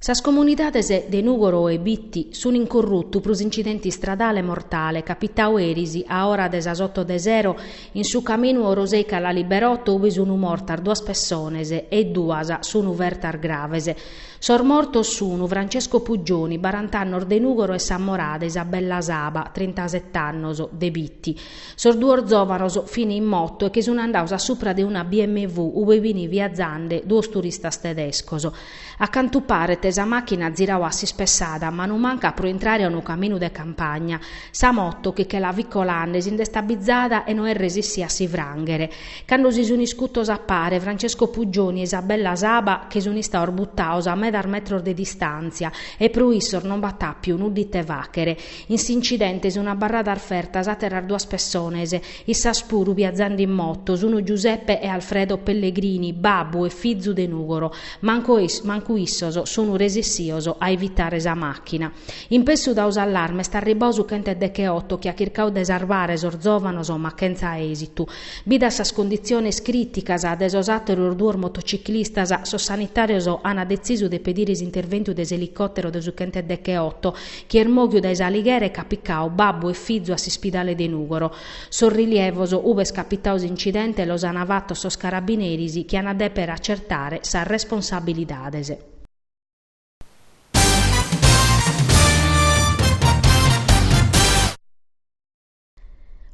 Sas comunidades de Nùgoro e Bitti sun in corrutu pro s'incidente istradale mortale capitadu eris a ora de sas oto de sero in su caminu Orosei-Callalibberotto ubi sun mortas duas pessones e duas sun fertas graves. Sos mortos sun Francesco Puggioni, barant'annos de Nùgoro e s'ammorada Isabella Saba, trintaset'annos, de Bitti. Sos duos zòvanos fin in moto e che sun andados a supra de una BMW ue fin viazande duos turistas tedescos. A cantu paret sa màchina at ziradu a s'ispessada a manu manca pro intrare a unu caminu de campagna. Sa moto, chi che la fit colande, si nd'est abbizada e no est resissia a si frànghere. Cando si sun iscutos a pare Francesco Puggioni e Isabella Saba che sun istados buttados a medas metros de distàntzia e pro issos non b'at àpiu nudda ite fàghere, In s'incidente sunt abarradas fertas àteras duas pessones, issas puru biazande in moto, sunt Giuseppe e Alfredo Pellegrini, babbu e fizu de Nùgoro. Mancu issos sunt resissios a evitare sa màchina. Impresse dau s'allarme est arribbau su chenteddecheoto chi at chircau de sarvare sos zòvanos ma chentza èsitu. Bidas sas conditziones crìticas de sos àteros duos motociclistas, sos sanitàrios ant detzisu de pedire s'interventu de s'elicòtero de su chenteddecheoto, chi est mòghiu dae S'Alighera ch'at picadu babbu e fizu a s'ispidale de Nùgoro. Sos rilievos ube est capitadu s'incidente los ant fatos sos carabineris chi ant a dèpere acertare sas responsabilidades.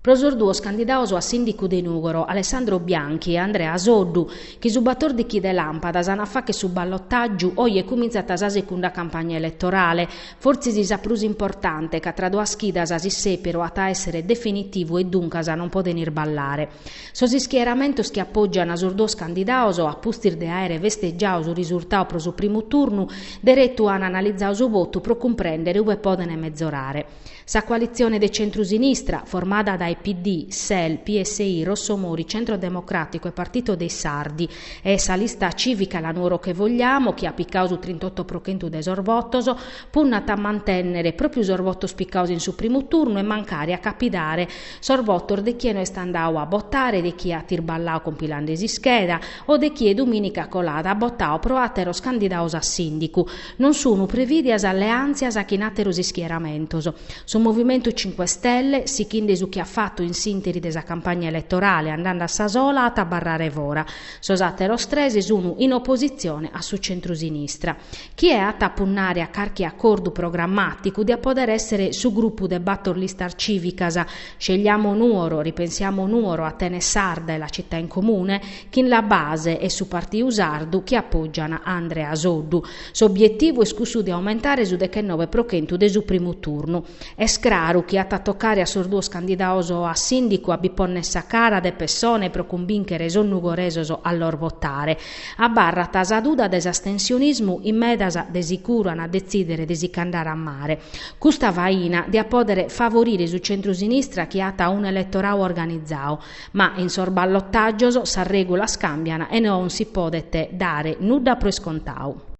Pro sos duos candidados a sìndicu de Nùgoro, Alessandro Bianchi e Andrea Soddu, chi su batordichi de làmpadas ant a facher su ballotàgiu, oje cumintzat sa segunda campagna eletorale, fortzis sa prus importante, ca tra duas chidas s'issèperu at a èssere definitivu e duncas non podent irballare. Sos ischieramentos chi apògiant sos duos candidados, a pustis de àere festegiadu su risurtadu pro su primu turnu, deretu ant analizadu su votu pro cumprèndere ue podent mezorare. Sa coalitzione de centru-sinistra, formada dae PD, Sel, PSI, Rossomori, Centru Democràticu e Partito dei Sardi, e sa Lista Cìvica La Nuoro che vogliamo, chi at picadu su trintotto pro chentu de sos votos, punnat a mantènnere pròpiu sos votos picados in su primu turnu e mancari a capidare sos votos de chie no est andadu a botare, de chie at irballadu compilande s'ischeda o de chie dumìnica colada at botadu pro àteros candidados a sìndicu. Non sunu prevìdias alleàntzias chin àteros ischieramentos. Su Movimentu Cinque Stelle, sighinde su chi at fatu in s'ìnteri de sa campagna eletorale andande a sa sola at a abarrare fora. Sos àteros tres sunu in opositzione a su centrusinistra. Chie at a punnare a carchi acordu programmàticu diat pòdere èssere su grupu de bator listas cìvicas, Scegliamo Nuoro, Ripensiamo Nuoro, Atene Sarda e La Città in Comune, chin la base e su Partiu Sardu chi apoggian a Andrea Soddu. S'obietivu est cussu de aumentare su dechennobe pro chentu de su primu turnu. Est craru chi at a tocare a sos duos candidaos a Sìndicu a bi ponnere sa cara de pessone pro cumbìnchere sos nugoresos a los votare. Abarrat sa duda de s'astensionismu in medas de sicuru an a detzìdere de si ch'andare a mare. Custa faina diat pòdere favorire su centru-sinistra chi at un'eletorau organizau. Ma in sos ballotàgios sas règulas càmbian e non si podet dare nudda pro iscontau.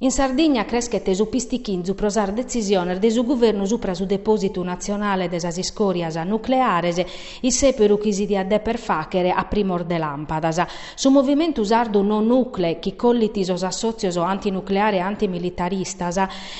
In Sardigna creschet su pistichinzu pro sas detzisiones de su guvernu supra su depòsitu natzionale de sas iscòrias nucleares, issèperu chi si diat dèpere fàchere a primos de làmpadas. Su Movimentu Sardu No Nucle, chi collit sos assòtzios antinucleare e antimilitaristas,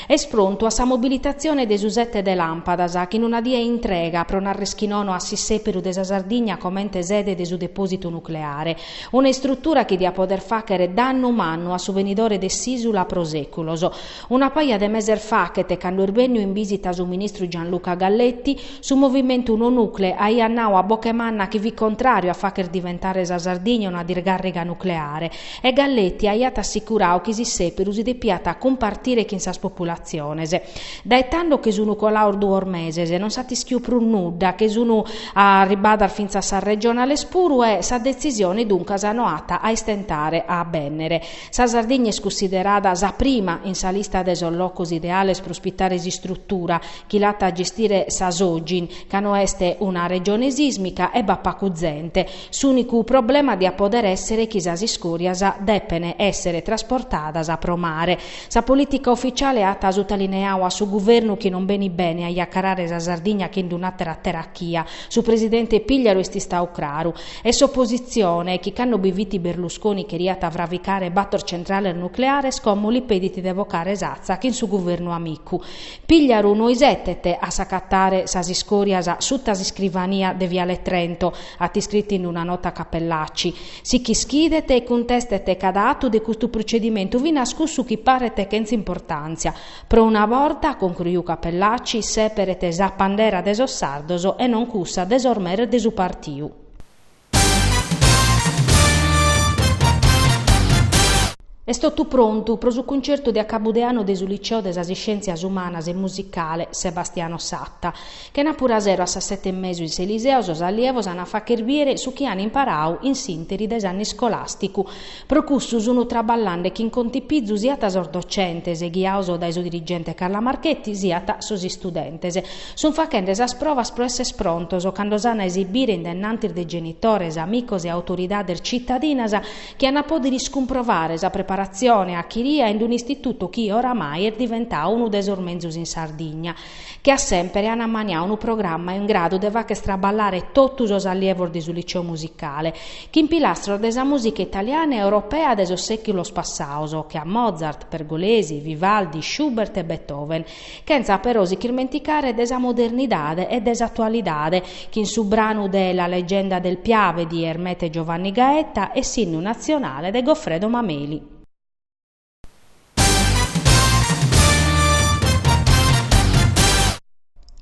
Est prontu a sa mobilitatzione de su sete de làmpadas, chin una die intrega pro nàrrere chi nono a s'issèperu de sa Sardigna comente sede de su depòsitu nucleare, una istrutura chi diat pòder fàchere dannu mannu a su benidore de s'ìsula pro sèculos. Una paja de meses fachet, cando est bènniu in bìsita su ministru Gianluca Galletti, su movimentu No Nucle aiat nau a boche manna chi fit contràriu a fàchere diventare sa Sardigna una dirgàrriga nucleare, E Galletti aiat assicurau chi s'issèperu si depiat cumpartire chin sas populatziones. Dae tando che sun colaos duos meses, non s'at ischiu prus nudda, che sun arribadas fintzas sas regionales puru e sa detzisione duncas no at a istentare a bènnere. Sa Sardigna est cussiderada sa prima in sa lista de sos locos ideales pro ospitare s'istrutura chi l'at a gestire sa Sogin, ca no est una regione sìsmica e b'at pacu zente, S'ùnicu problema diat pòdere èssere chi sas iscòrias depen èssere trasportadas pro mare. Sa polìtica ufitziale at sutalineau a su guvernu chi non benit bene a iacarare sa Sardigna chin d'un'àtera terachia. Su presidente Pigliaru est istau craru. E s'opositzione, chi cando bi fit Berlusconi cheriat fravicare bator centrales nucleares como li pedit de bocare s'atza chin su guvernu amicu. Pigliaru no isetet a s'acatare sas iscòrias suta s'iscrivania de Viale Trento. At iscritu in una nota Cappellacci. Si ch'ischidet e cuntestet cada atu de custu procedimentu, finas cussu chi paret chentz'importàntzia. Pro una borta, concruiu Cappellacci, sèperet sa pandera de sos sardos e non cussa de sos meres de su partiu. Est totu prontu pro su cuncertu de acabu de annu de su Liceo de sas Iscièntzias Umanas e Musicale Sebastiano Satta. Chenàpura sero a sas sete e mesu in s'Eliseo sos allievos an a facher biere su chi an imparau in s'interi de s'annu iscolàsticu. Pro cussu sun traballande chin contipizu siat sos docentes, ghiaos dae su dirigente Carla Marchetti, siat sos istudentes. Sun fachende sas probas pro esser prontos cando s'an a esibire in dennantis de genitores, amicos e autoridades citadinas chi an a pòdere iscumprovare sa preparatzione achiria in un'istitutu chi oramai est diventau unu de sos menzus in Sardigna. che a sèmpere an ammaniau unu programma in gradu de facher traballare totu sos allievos de su Liceu Musicale, chin pilastros de sa mùsica italiana e europea de sos sèculos passaos, che a Mozart, Pergolesi, Vivaldi, Schubert e Beethoven, chentza però si ch'irmenticare de sa modernidade e de s'atualidade, chin su branu de La leggenda del Piave di Ermete Giovanni Gaeta e s'Innu nazionale de Goffredo Mameli.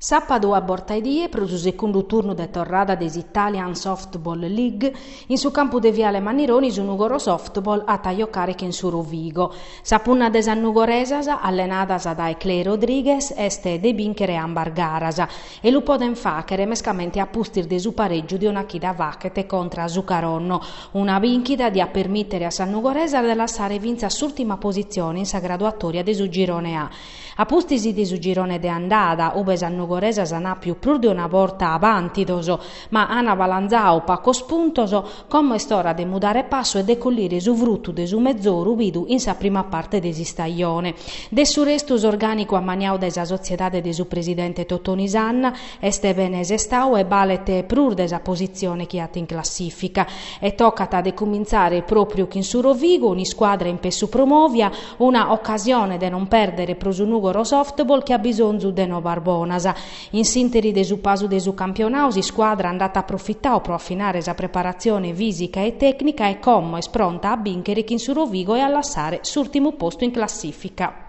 Sàpadu a borta 'e die, pro su secundu turnu de torrada de s'Italian Softball League, in su campu de Viale Mannironi su Nugoro Softball at a jocare chin su Rovigo. Sa punna de sas nugoresas, allenadas dae Clay Rodriguez, est de bìnchere ambas garas. e lu podent fàchere mescamente a pustis de su parègiu de una chida fachet contra a su Caronno, una bìnchida diat permìtere a sas nugoresas de lassare fintzas s'ùrtima positzione in sa graduatòria de su Girone A. A pustis de su girone de andada, ube sas nugoresas ant àpiu prus de una borta abàntidos, Ma an balanzau pacos puntos, como est ora de mudare passu e de collire su frutu de su mezoru bidu in sa prima parte de s'istajone. De su restu s'orgànicu ammaniau dae sa sotziedade de su presidente Totoni Sanna est bene sestau e balet prus de sa positzione chi at in classìfica. E tocat de cumintzare pròpriu chin su Rovigo, un'iscuadra in pessu promovia, una ocasione de non pèrdere pro su Nùgoro Softball chi at bisonzu de nobas bonas. In s'interi de su pasu de su campionau s'iscuadra nd'at aprofitau pro afinare sa preparatzione fìsica e tècnica e como est pronta a bìnchere chin su Rovigo e a lassare s'ùrtimu postu in classìfica.